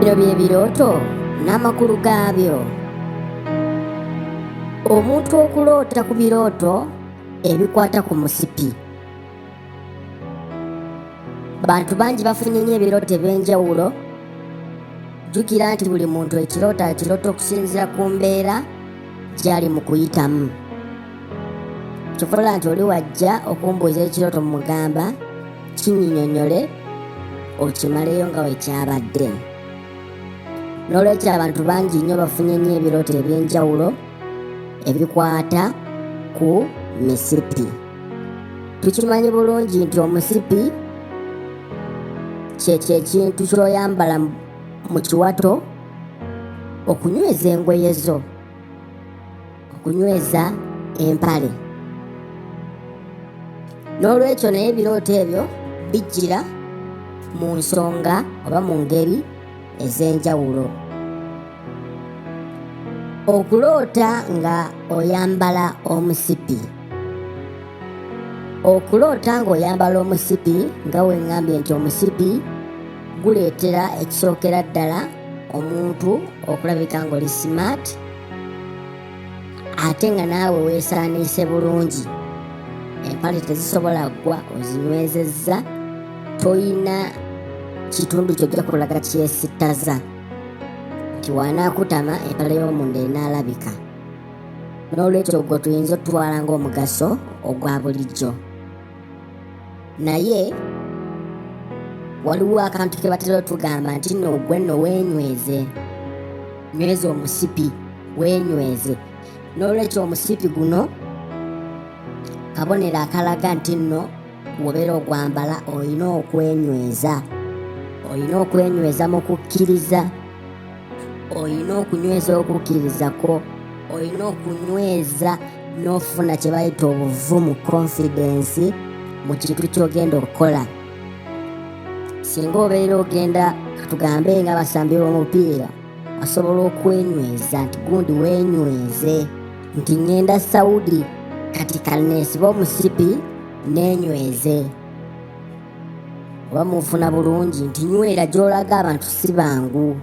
Bino bye birooto n'amakulu gaabyo. Omuntu okuloota ku birooto ebikwata ku musipi. Bantu bangi bafunye nnyo ebirooto eby'enjawulo. Jjukira nti buli muntu ekirooto akiroota okusinziira ku mbeera gy'ali mu kuyitamu. Kyokola nti oli wajja okumbuuza ekirooto mu mugamba kinyinyonyole okimaleyo nga wekyabadde n'olwekyo abantu bangi nnyo bafunye nnyo ebirooto eby'enjawulo ebikwata ku misipi tukimanyi bulungi nti omusipi kyekyo ekintu kyoyambala mu kiwato okunyweza engoye zo ku kunyweza empale n'olwekyo naye ebirooto ebyo bijjira mu nsonga oba mu ngeri ez'enjawulo okuloota nga oyambala omusipi okuloota ng'oyambala omusipi nga weŋŋambye nti omusipi guleetera ekisookera ddala omuntu okulabika ng'oli simaati ate nga naawe weesaaniise bulungi empale tezisobola ggwa ozinywezezza toyina kitundu kyojja kulaga kyesittaza nti wanaakutama empale y'omunda enaalabika n'olwekyo ogwo tuyinza otutwala ng'omugaso ogwa bulijjo naye waliwo akantu ke batera otugamba nti nno gwe nno weenyweze nyweza omusipi weenyweze n'olwekyo omusipi guno kabonero akalaga nti nno wobeera ogwambala olina okwenyweza olina okwenyweza mu kukkiriza olina okunyweza okukkiriza kwo olina okunyweza n'ofuna kye bayita obuvumu konfidensi mu kintu ky'ogenda okukola singa obeera ogenda katugambe nga basambi b'omupiira asobola okwenyweza nti gundi wenyweze nti ŋenda saudi kati kaneesiba omusipi nenyweze oba munfuna bulungi nti nywera gy'olaga abantu si bangu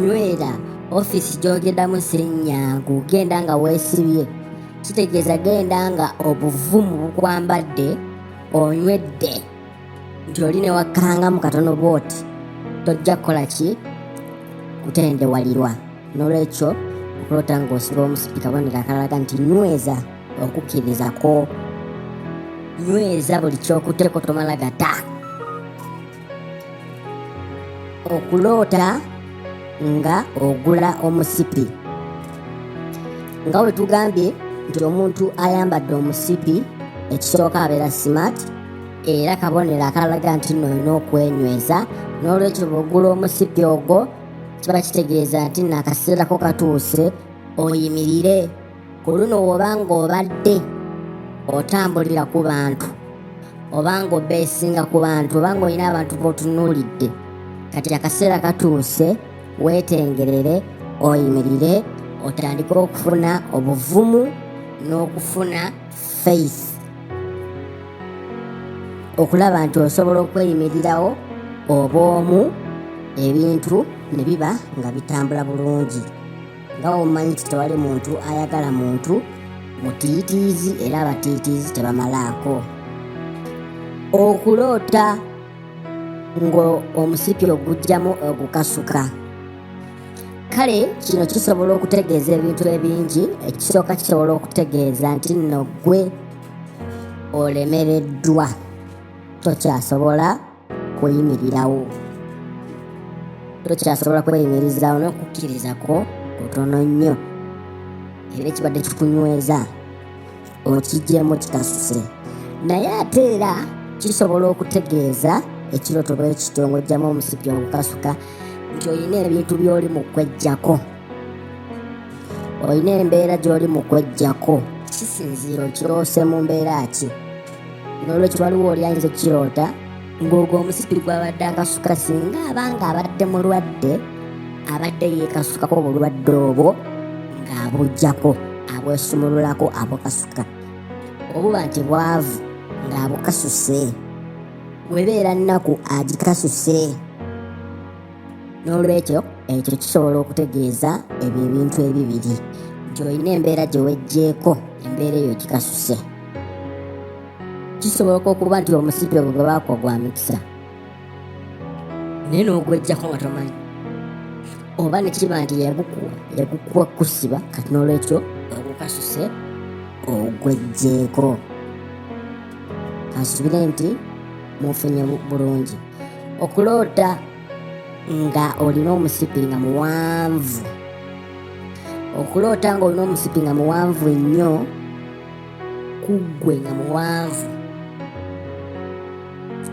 nywera ofiisi gy'ogendamu sirinyangu genda nga weesibye kitegeeza genda nga obuvumu bukwambadde onywedde nti oli ne wakkangamu katono bwoti tojja kukola ki kutendewalirwa n'olwekyo okulota ng'osiba omusipika bonera akalaga nti nyweza okukkiriza kwo nyweza buli ky'okuteeko tomala gata okuloota nga ogula omusipi nga bwe tugambye nti omuntu ayambadde omusipi ekisooka abeera smart era kabonero akalaga nti nno olina okwenyweza n'olwekyo bwogula omusipi ogwo kiba kitegeeza nti nno akaseerako katuuse oyimirire ku luno woba ng'obadde otambulira ku bantu oba ng'obeesinga ku bantu oba ng'olina abantu b'otunuulidde kati akaseera katuuse weetengerere oyimirire otandike okufuna obuvumu n'okufuna faith okulaba nti osobola okweyimirirawo obw'omu ebintu ne biba nga bitambula bulungi nga womanyi nti tewali muntu ayagala muntu mutiitiizi era abatiitiizi tebamalaako okuloota ng'omusipi ogugjamu ogukasuka kale kino kisobola okutegeeza ebintu ebingi ekisooka kisobola okutegeeza nti nno ggwe olemereddwa tokyasobola kuyimirirawo tokyasobola kweyimirizaawo n'okukkiriza kwo kutono nnyo era ekibadde kikunyweza okijjemu kitasuse naye ate era kisobola okutegeeza ekiroto bwe kityo ng'ojjamu omusipi ogukasuka nti olina ebintu by'oli mu kwejjako olina embeera gy'oli mu kwejjako kisinziira okiroose mu mbeera ki n'olwekyo waliwo oli ayinza okukiroota ng'ogwo omusipi gwabadde akasuka singa abanga abadde mulwadde abadde yeekasukako obulwadde obwo ng'abujjako abwesumululako abukasuka obuba nti bwavu ng'abukasuse webeera nnaku agikasuse n'olwekyo ekyo kisobola okutegeeza ebyo ebintu ebibiri nti olina embeera gye wejjeeko embeera eyo gikasuse kisoboka okuba nti omusipi ogwo gwebaako gwa mikisa naye n'ogwejjako nga tomanyi oba nekiba nti yagukuwa yagukuwa kusiba kati n'olwekyo ogukasuse ogwejjeeko kansubire nti mufunye bulungi okuloota nga olina omusipi nga muwanvu okuloota nga olina omusipi nga muwanvu ennyo kuggwe nga muwanvu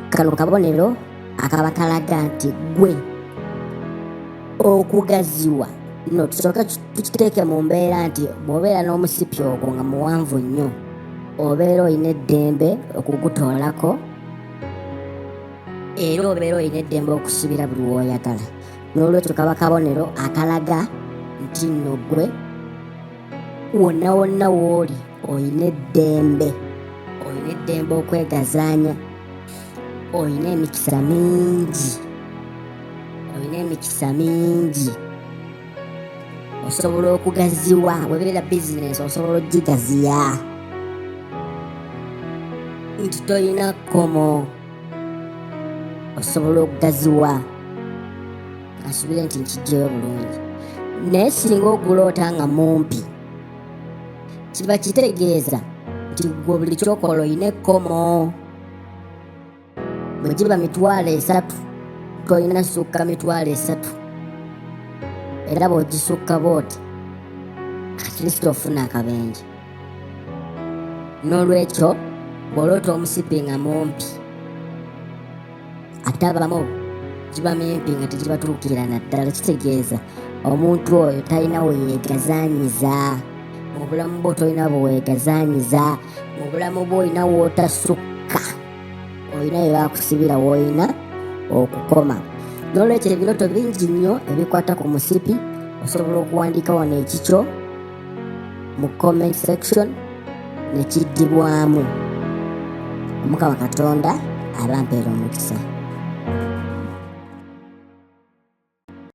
kano kabonero akaba kalaga nti gwe okugaziwa no tusooke tukiteeke mu mbeera nti bw'obeera n'omusipi ogwo nga muwanvu nnyo obeera olina eddembe okugutoolako era obeera olina eddembe okusibira buli wooyagala n'olwekyo kaba kabonero akalaga nti nno gwe wonna wonna wooli olina eddembe olina eddembe okwegazaanya olina emikisa mingi olina emikisa mingi osobola okugaziwa webeera bizinesi osobola ogigaziya nti tolina kkomo osobola okugaziwa asubire nti nkijjayo bulungi naye singa oguloota nga mumpi kiba kitegeeza nti gwe buli kyokola olina ekkomo bwe giba mitwalo esatu tolina sukka mitwalo esatu era bw'ogisukka bw'oti atleast ofuna akabenje n'olwekyo bw'oloota omusipi nga mumpi ate abamu giba mimpi nga tegibatuukira naddala kitegeeza omuntu oyo talina weyeegazanyiza mu bulamu bwo tolina bweweegazanyiza mu bulamu bwo olina wootasukka olina bye bakusibira w'olina okukoma n'olwekyo ebirooto bingi nnyo ebikwata ku musipi osobola okuwandiika wano ekikyo mu comment section nekiddibwamu omukama katonda abampeera omukisa